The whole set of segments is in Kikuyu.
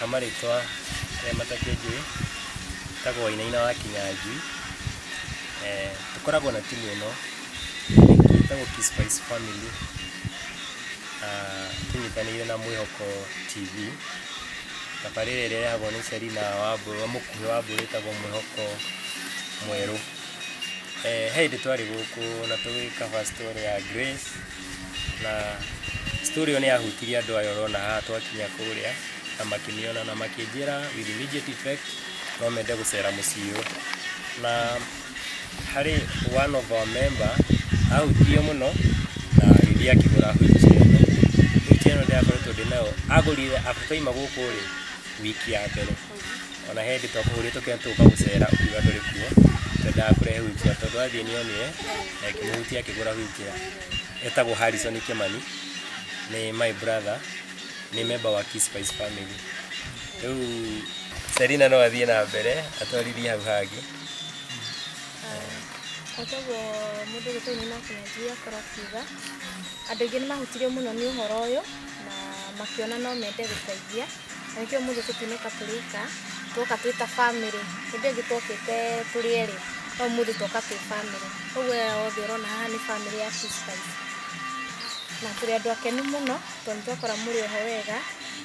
ha marĩtwa arĩa matakĩnjũĩ njĩtagwo Wainaina wa Kinyanjui. Eh, tũkoragwo na timu ĩno ĩtagwo Key Spice Family ah, tũnyitanĩire na Mwĩhoko TV tabarĩra ĩrĩa ĩrehagwo nĩ Selina wa Mbũrũ mũkuhĩ wa Mbũrũ ĩtagwo Mwĩhoko mwerũ. Eh, he hĩndĩ twarĩ gũkũ na tũgĩka fast story ya Grace Na story ĩyo nĩ yahutirie andũ aya ũrona haha twakinya kũrĩa na makĩniona na makĩnjĩra with immediate effect no mende gũcera mũciĩ ũyũ. Na harĩ one of our member ahutirio mũno na agĩthiĩ akĩgũra wheelchair ĩno. Wheelchair ĩno ndĩrakoretwo ndĩ nayo, agũrire after aima gũkũ rĩ, wiki ya mbere. ona he hĩndĩ twakũhũrĩtwo kĩrĩa tũka gũcera ũkiuga ndũrĩ kuo twendaga kũrehe wheelchair tondũ twathiĩ nĩonire na ĩkĩmũhutia akĩgũra wheelchair etagwo Harrison Kĩmani nĩ my brother nĩ member wa Key Spice family rĩu Selina no athiĩ na mbere atwarithie hau hangĩ Koguo mũndũ ũyũ tũu nĩ nakinyanjia akorwo akiuga andũ aingĩ nĩ mahutirio mũno nĩ ũhoro ũyũ na makĩona no mende gũteithia. na nĩkĩo mũthĩ tũtinũka tũrĩka twoka twĩ ta bamĩrĩ hĩndĩ ĩngĩ twokĩte tũrĩ erĩ no mũthĩ twoka twĩ bamĩrĩ koguo aya othe ũrona haha nĩ bamĩrĩ ya sister itũ na tũrĩ andũ akenu mũno tondũ nĩ twakora mũrĩ oho wega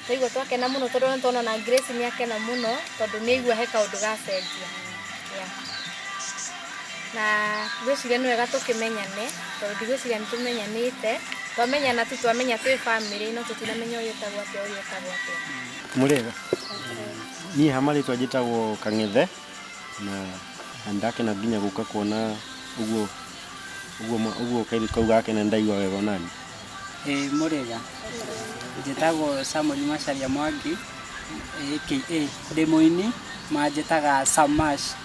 twaigua twakena mũno tondũ nĩ tũrona ona Grace nĩ akena mũno tondũ nĩ aigua he kaũndũ gacenjia yeah. Na ngwĩciria nĩ wega tũkĩmenyane tondũ ndigwĩciria nĩ tũmenyanĩte. Twamenyana tu twamenya twĩ bamĩrĩ no tũtiramenya ũyũ etagwo atĩa ũyũ etagwo atĩa. Mũrĩega? Niĩ ha marĩtwa njĩtagwo Kang'ethe na nĩ ndakena nginya gũka kuona ũguo ũguo ma- ũguo kairĩtu kau gake na nĩ ndaigua wega onaniĩ. Ĩĩ mũrĩega? Njĩtagwo Samuel Macharia Mwangi aka ndĩ mũini manjĩtaga Samash.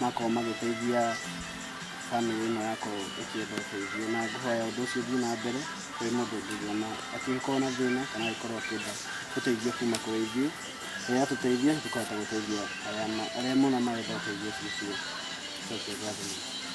makorwo magĩteithia bamĩrĩ ĩno yakwa ĩkĩenda ũteithio. Na ngũhoya ũndũ ũcio ũthiĩ na mbere kwĩ mũndũ ũngĩona angĩgĩkorwo na thĩna kana angĩkorwo akĩenda ũteithio kuma kũrĩ ithuĩ. Rĩrĩa atũteithia nĩ tũkũhota gũteithia arĩa mona marenda ũteithio ũcio ũcio. Njoke ngatho.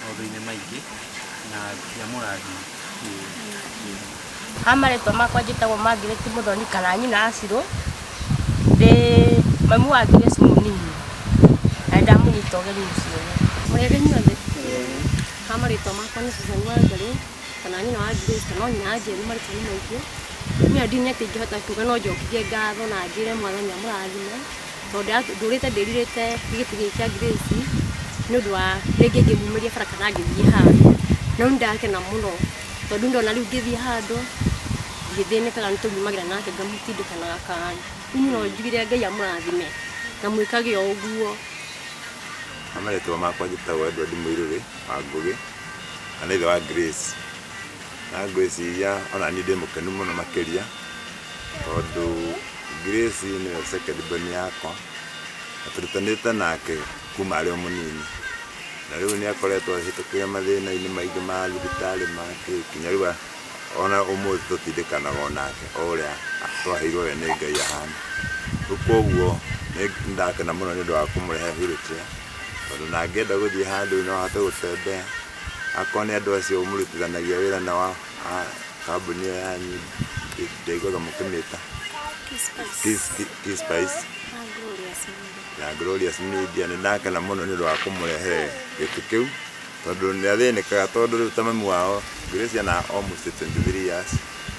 maũndũ-inĩ maingĩ na ndiamũrathi kĩndũ. Ha marĩtwa makwa njĩtagwo Margaret Mũthoni kana nyina Acirũ, ndĩ mami wa Grace mũnini na nĩ ndamũnyita ũgeni mũciĩ ũyũ. Mũrĩega inyuothe? Ha marĩtwa makwa nĩ Susan Wangarĩ kana nyina wa Grace kana o nyina anjĩra nĩ marĩtwa nĩ maingĩ. Niĩ handinĩ atĩ ingĩhota kuga no njokithie ngatho na njĩre Mwathani amũrathime. Tondũ ndũrĩte ndĩrirĩte gĩtĩ gĩkĩ kĩa Grace nĩ ũndũ wa rĩngĩ ingĩmumĩria bara kana ngĩthiĩ handũ. No nĩ ndakena mũno tondũ nĩ ndona rĩu ngĩthiĩ handũ ndithĩnĩkaga nĩ tondũ nyumagĩra nake ngamũtindĩka na gakari. Rĩu mũno njugire Ngai amũrathime na mwĩkage o ũguo. Niĩ marĩtwa makwa njĩtagwo Edward Mũirũrĩ wa Ngũgĩ na nĩ ithe wa Grace. Na Grace ona niĩ ndĩ mũkenu mũno makĩria. Tondũ Grace nĩwe second born yakwa, na tũrutanĩte nake kuma arĩ o mũnini. Na rĩu nĩ akoretwo ahĩtũkĩire mathĩna-inĩ maingĩ ma thibitarĩ ma kĩ, nginya rĩu ona ũmũthĩ tũtindĩkanaga o nake o ũrĩa twaheirwo we nĩ Ngai ahana. Rĩu kũguo nĩ ndakena mũno nĩũndũ wa kũmũrehe wheel chair, tondũ ona angĩenda gũthiĩ handũ no ahote gũtembea. Akorwo nĩ andũ acio mũrutithanagia wĩra nao a. Ah, kambuni ĩyo yanyu ndĩ- ndaiguaga mũkĩmĩta Kiss- Ki- Kiss Spice na Glorious Media nĩ ndakena mũno nĩ ũndũ wa kũmũrehe gĩtĩ kĩu tondũ nĩ athĩnĩkaga tondũ rĩu ta mami wao Gracia na almost 23 years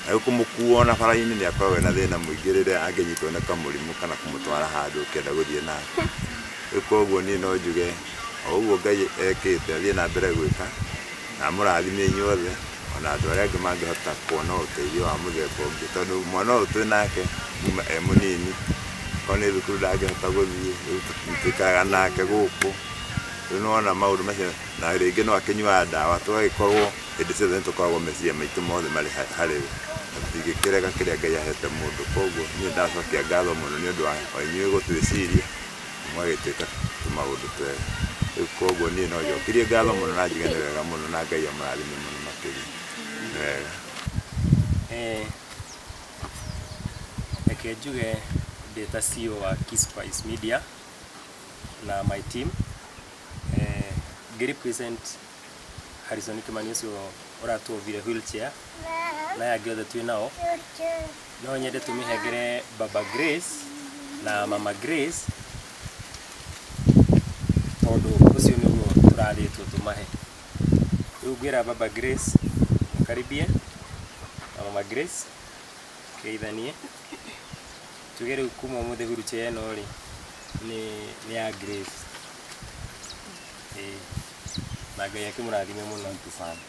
na rĩu kũmũkuo ona bara-inĩ nĩ akoragwo ena thĩna mũingĩ rĩrĩa angĩnyitwo nĩ kamũrimũ kana kũmũtwara handũ ũkĩenda gũthiĩ nake rĩu koguo niĩ no njuge o ũguo Ngai ekĩte athiĩ na mbere gwĩka Na amũrathime inyuothe, o na andũ arĩa angĩ mangĩhota kuona ũteithio wa mũthemba ũngĩ, tondũ mwana ũyũ twĩ nake kuma e mũnini, akorwo nĩ thukuru ndangĩhota gũthiĩ, rĩu tũikaraga nake gũkũ, rĩu nĩ wona maũndũ macio, na rĩngĩ no akĩnyuaga ndawa, tũgagĩkorwo hĩndĩ ciothe nĩ tũkoragwo meciria maitũ mothe marĩ harĩ we, na tũtingĩkĩrega kĩrĩa Ngai ahete mũndũ, koguo niĩ nĩ ndacokia ngatho mũno nĩ ũndũ wa inyuĩ gũtwĩciria. mũgagĩtuĩka tũmaũndũ twega. Rĩu koguo niĩ no njokirie ngatho mũno na njuge nĩ wega mũno na Ngai amũrathime mũno makĩria. Nĩ wega. Eh, reke njuge ndĩ ta CEO wa Keyspice Media na my team. Eh, ngĩ represent Harrison Kimani ũcio ũratuovire wheelchair na aya angĩ othe twĩ nao no nyende tũmĩhengere baba Grace na mama Grace tondũ ũcio nĩguo tũrathĩtwo tũmahe rĩu ngwĩra baba Grace mũkaribie na mama Grace geithanie tuge rĩu kuma ũmũthĩ wheelchair ĩno rĩ nĩ nĩ ya Grace Ĩĩ. na ngai akĩmũrathime mũno tũbana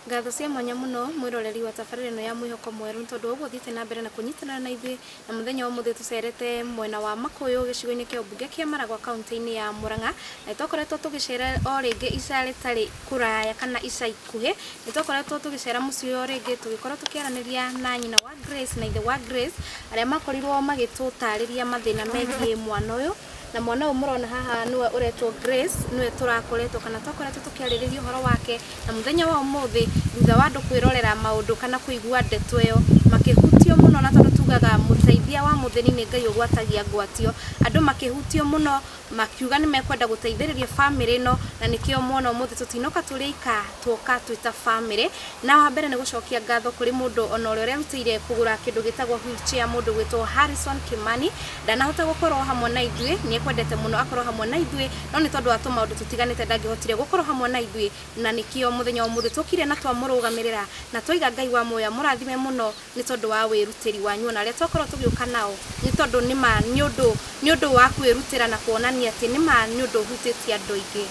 ngatho cia mwanya mũno mwĩroreri wa tabarĩra ĩno ya mwĩhoko mwerũ nĩ tondũ ũguo thiĩte na mbere na kũnyitanĩra na ithuĩ na mũthenya wa ũmũthĩ tũcerete mwena wa makũyũ gĩcigo-inĩ kĩa ũmbunge kĩa maragwa kaunti-inĩ ya mũrang'a na nĩtwakoretwo tũgĩcera o rĩngĩ ica rĩtarĩ kũraya kana ica ikuhĩ nĩtwakoretwo tũgĩcera mũciĩ o rĩngĩ tũgĩkorwo tũkĩaranĩria na nyina wa Grace na ithe wa Grace arĩa makorirwo magĩtũtarĩria mathĩna megiĩ mwana ũyũ na mwana ũyũ mũrona haha nĩwe ũretwo Grace nĩwe tũrakoretwo kana twakoretwo tũkĩarĩrĩria ũhoro wake na mũthenya wa ũmũthĩ thutha wa andũ kwĩrorera maũndũ kana kũigua ndeto ĩyo makĩhutio mũno na tondũ tugaga mũteithia wa mũthĩni nĩ Ngai ũgwatagia ngwatio, andũ makĩhutio mũno makiuga nĩ mekwenda gũteithĩrĩria bamĩrĩ ĩno na nĩkĩo mwana ũmũthĩ tũtinoka tũrĩ aika tuoka twĩ ta bamĩrĩ na wa mbere nĩ gũcokia ngatho kũrĩ mũndũ ona ũrĩa ũrerutĩire kũgũra kĩndũ gĩtagwo wheelchair mũndũ gwĩtwo Harrison Kimani ndanahota gũkorwo hamwe na ithuĩ nĩ ekwendete mũno akorwo hamwe na ithuĩ no nĩ tondũ wa tũmaũndũ tũtiganĩte ndangĩhotire gũkorwo hamwe na ithuĩ na nĩkĩo mũthenya wa ũmũthĩ tũkire na twamũrũgamĩrĩra na twaiga Ngai wa muoyo amũrathime mũno nĩ tondũ wa wĩrutĩri wanyu ona arĩa twakorwo tũgĩũka nao nĩ tondũ nĩma nĩ ũndũ nĩ ũndũ wa kwĩrutĩra na kuonania atĩ nĩma nĩ ũndũ ũhutĩtie andũ aingĩ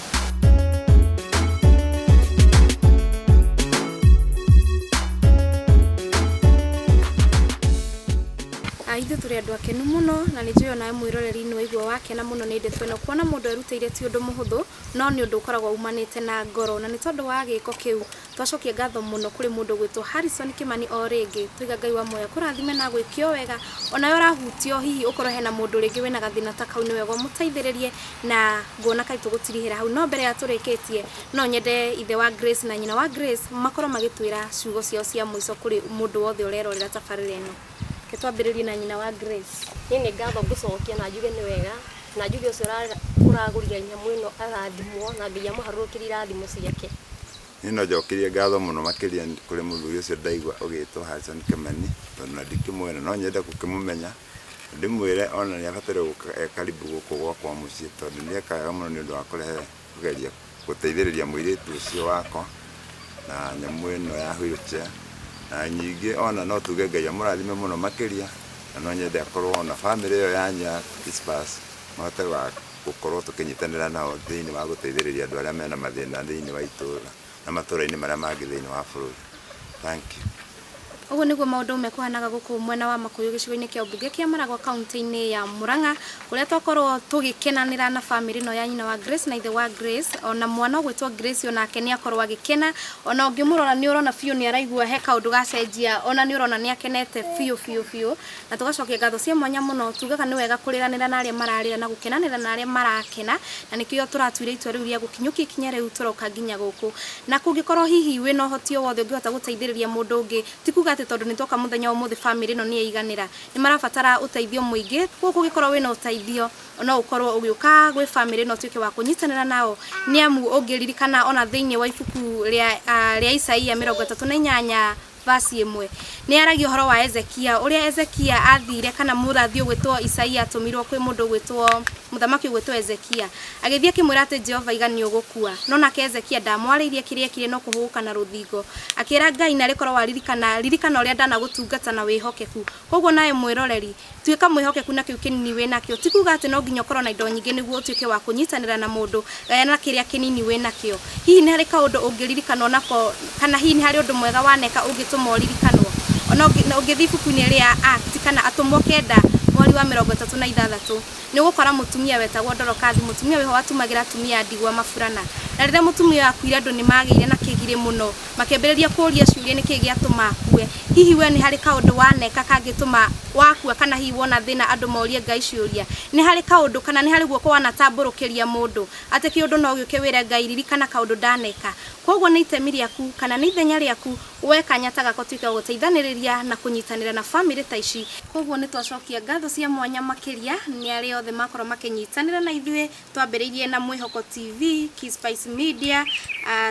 ithuĩ tũrĩ andũ akenu mũno na nĩ njũĩ onawe mwĩroreri-inĩ waigua wakena mũno nĩ ndeto ĩno kuona mũndũ erutĩire ti ũndũ mũhũthũ no nĩ ũndũ ũkoragwo umanĩte na ngoro na nĩ tondũ wa gĩko kĩu Twacokia ngatho mũno kũrĩ mũndũ ũgwĩtwo Harrison Kĩmani o rĩngĩ, twaiga Ngai wa muoyo akũrathime na agwĩkee o wega, onawe ũrahutio hihi ũkorwo hena mũndũ rĩngĩ wĩna gathĩna ta kau nĩ wega ũmũteithĩrĩrie, na ngona kaĩ tũgũtirihĩra hau, no mbere ya tũrĩkĩtie no nyende ithe wa Grace na nyina wa Grace makorwo magĩtwĩra ciugo ciao cia mũico kũrĩ mũndũ wothe ũrerorera tabarĩra ĩno. Reke twambĩrĩrie na nyina wa Grace. Niĩ nĩ ngatho ngũcokia na njuge nĩ wega, na njuge ũcio ũragũrire nyamũ ĩno arathimwo na Ngai amũharũrũkĩrie irathimo ciake. Niĩ no njokirie ngatho mũno makĩria kũrĩ mũthuri ũcio ndaigua ũgĩtwo Harrison Kĩmani, tondũ ona ndikĩmũĩ na no nyende gũkĩmũmenya, na ndĩmwĩre ona nĩ abataire gũka e karibu gũkũ gwakwa mũciĩ, tondũ nĩ ekaga wega mũno nĩ ũndũ wa kũrehe Kũgeria gũteithĩrĩria mũirĩtu ũcio wakwa na nyamũ ĩno ya wheel chair, na ningĩ ona no tuge Ngai amũrathime mũno makĩria, na no nyende akorwo ona bamĩrĩ ĩyo yanyu ya T-Spurs mahote gũkorwo tũkĩnyitanĩra nao thĩiniĩ wa gũteithĩrĩria andũ arĩa mena mathĩna thĩiniĩ wa itũũra. na matũũra-inĩ marĩa mangĩ thĩinĩ wa bũrũri. Thank you. Ũguo nĩguo maũndũ mekũhanaga gũkũ mwena wa Makuyu gĩcigo-inĩ kĩa ũmbunge kĩa Maragwa kaũntĩ-inĩ ya Murang'a kũrĩa twakorwo tũgĩkenanĩra na famĩlĩ ĩno ya nyina wa Grace na ithe wa Grace ona mwana ũgwĩtwo Grace onake nĩ akorwo agĩkena ona ũngĩmũrora nĩ ũrona biũ nĩ araigua he kaũndũ gacenjia ona nĩ ũrona nĩ akenete biũ biũ biũ Na tũgacokia ngatho cia mwanya mũno, tugaga nĩ wega kũrĩranĩra na arĩa mararĩra na gũkenanĩra na arĩa marakena, na nĩkĩo tũratuire itua rĩu rĩa gũkinyũkia ikinya rĩu tũroka nginya gũkũ. Na kũngĩkorũo hihi wĩ na ũhoti o wothe ũngĩhota gũteithĩrĩria mũndũ ũngĩ, ti kuuga atĩ tondũ nĩ twoka mũthenya wa ũmũthĩ famĩlĩ ĩno nĩ yaiganĩra. Nĩ marabatara ũteithio mũingĩ, kwoguo kũngĩkorũo wĩ na ũteithio no ũkorũo ũgĩũka gwĩ famĩlĩ ĩno ũtuĩke wa kũnyitanĩra nao. Nĩ amu ũngĩririkana o na thĩinĩ wa ibuku rĩa Isaia mĩrongo ĩtatũ na inyanya, Vaci ĩmwe nĩ yaragia ũhoro wa Ezekia, ũrĩa Ezekia athire, kana mũrathi ũgwĩtwo Isaia atũmirwo kwĩ mũndũ ũgwĩtwo, mũthamaki ũgwĩtwo Ezekia. Agĩthiĩ akĩmwĩra atĩ Jehova aiga nĩ ũgũkua. No nake Ezekia ndamwarĩirie kĩrĩa ekire no kũhũgũka na rũthingo. Akĩra Ngai, narĩ korwo waririkana, ririkana ũrĩa ndanagũtungata na wĩhokeku. Kwoguo nawe mwĩroreri, tuĩka mwĩhokeku na kĩu kĩnini wĩ nakĩo. Ti kuuga atĩ no nginya ũkorũo na indo nyingĩ nĩguo ũtuĩke wa kũnyitanĩra na mũndũ. Gayana kĩrĩa kĩnini wĩ nakĩo. Hihi nĩ harĩ kaũndũ ũngĩririkanwo nako kana hihi nĩ harĩ ũndũ mwega waneka ũngĩtũma ũririkanwo. O na ũngĩthiĩ ibuku-inĩ rĩa Acts kana Atũmwo kenda mweri wa mĩrongo ĩtatũ na ithathatũ, nĩ ũgũkora mũtumia wetagwo Dorokathi. Mũtumia ũyũ watumagĩra atumia a ndigwa maburana. Na rĩrĩa mũtumia ũyũ aakuire andũ nĩ maagĩire na kĩgirĩ mũno. makĩambĩrĩria kũũria ciũria nĩ kĩĩ gĩatũma akue. Hihi wee nĩ harĩ kaũndũ waneka kangĩtũma wakua kana hihi wona thĩna andũ morie Ngai ciũria? Nĩ harĩ kaũndũ kana nĩ harĩ guoko wanatambũrũkĩria mũndũ atĩ kĩũndũ no gĩũke wĩre Ngai ririkana kaũndũ ndaneka? Kwoguo nĩ itemi rĩaku kana nĩ ithenya rĩaku woe kanya ta gaka ũtuĩke wa gũteithanĩrĩria na kũnyitanĩra na famĩlĩ ta ici. Kwoguo nĩ twacokia ngatho cia mwanya makĩria nĩ arĩa othe makorwo makĩnyitanĩra na ithuĩ. Twambĩrĩirie na Mwĩhoko TV, Keyspice Media,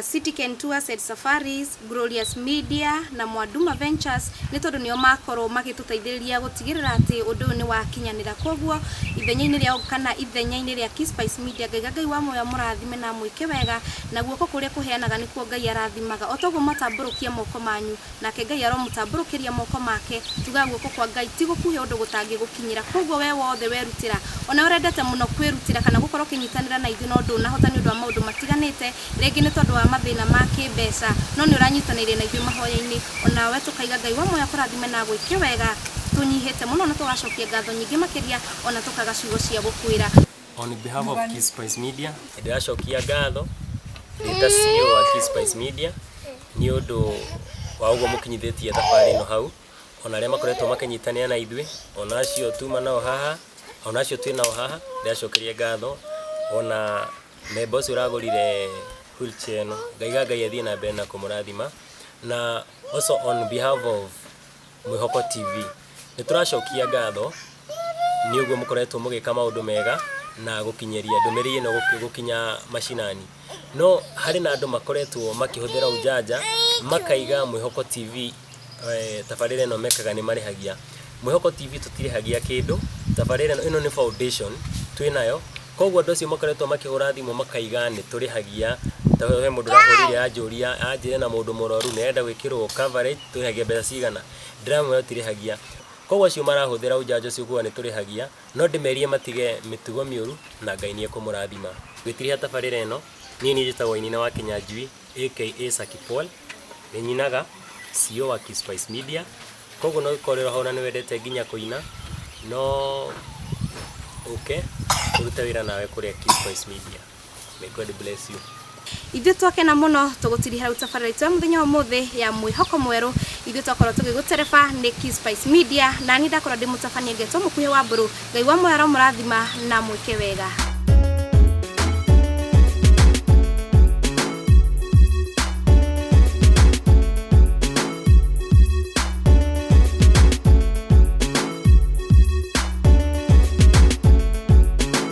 City Ken Tours and Safaris, Glorious Media na Mwanduma Ventures nĩ tondũ nĩo makorwo magĩtũteithĩrĩria gũtigĩrĩra atĩ ũndũ ũyũ nĩ wakinyanĩra. Kwoguo ithenya-inĩ rĩao kana ithenya-inĩ rĩa Keyspice Media, Ngaiga Ngai wa muoyo amũrathime na amwĩke wega, na guoko kũrĩa kũheanaga nĩkuo Ngai arathimaga. O ta ũguo mwatambũrũkia moko manyu, nake Ngai aromũtambũrũkĩria moko make, tugaga guoko kwa Ngai ti gũkuhĩ ũndũ gũtangĩgũkinyĩra. Kwoguo wee wothe werutĩra, o nawe ũrendete mũno kwĩrutĩra kana gũkorũo ũkĩnyitanĩra na ithuĩ no ndũnahota nĩ ũndũ wa maũndũ matiganĩte, rĩngĩ nĩ tondũ wa mathĩna ma kĩĩmbeca, no nĩ ũranyitanĩire na ithuĩ mahoya-inĩ, o nawe tũkaiga Ngai wa muoyo akũrathime na agwĩke wega, tũnyihĩte mũno na tũgacokia ngatho nyingĩ makĩria, o na tũkaga ciugo cia gũkwĩra. On behalf of Kiss Spice Media, ndĩracokia ngatho ndĩta CEO wa Kiss Spice Media nĩ ũndũ wa ũguo mũkinyithĩtie thabarĩ ĩno hau ona arĩa makoretwo makĩnyitanĩra na ithuĩ ona acio tuma nao haha ona acio twĩ nao haha ndĩracokeria ngatho ona memba ũcio ũragũrire wheelchair ĩno ngaiga ngai athiĩ na mbere na kũmũrathima na also on behalf of Mwĩhoko TV. Nĩ tũracokia ngatho nĩ ũguo mũkoretwo mũgĩka maũndũ mega na gũkinyĩria ndũmĩrĩri ĩno gũkinya mashinani. No harĩ na andũ makoretwo makĩhũthĩra ũjanja makaiga Mwĩhoko TV tabarĩra ĩno mekaga nĩ marĩhagia. Mwĩhoko TV tũtirĩhagia kĩndũ, tabarĩra ĩno, ĩno nĩ foundation twĩ nayo. Koguo andũ acio makoretwo makĩhũra thimũ makaiga nĩ tũrĩhagia, he mũndũ ũrahũrĩire anjũria, anjĩra ena mũndũ mũrwaru nĩ arenda gwĩkĩrwo coverage. tũrĩhagia mbeca cigana ndĩramwĩra tũtirĩhagia koguo acio marahũthĩra ũnjanjo ũcio kuga nĩ tũrĩhagia no ndĩmerie matige mĩtugo mĩũru na Ngai nĩ ekũmũrathima ngwĩtĩrĩria tabarĩra ĩno niĩ niĩ njĩtagwo Wainaina wa Kĩnyanjui aka Saki Paul nĩ nyinaga CEO wa Kispice Media koguo no korĩrwo hau na nĩ wendete nginya kũina no ũke ũrute wĩra nawe kũrĩa Kispice Media. May God bless you. ithuĩ twakena mũno tũgũtirihĩra rĩu tabarĩra itũ ya mũthenya wa ũmũthĩ ya mwĩhoko mwerũ ithuĩ twakorwo tũgĩgũtereba nĩ Kiss Spice media na niĩ ndakorwo ndĩ mũtabania ngetwo mũkuhĩ wa mbũrũ ngai wa mũyaro mũrathima na mwĩke wega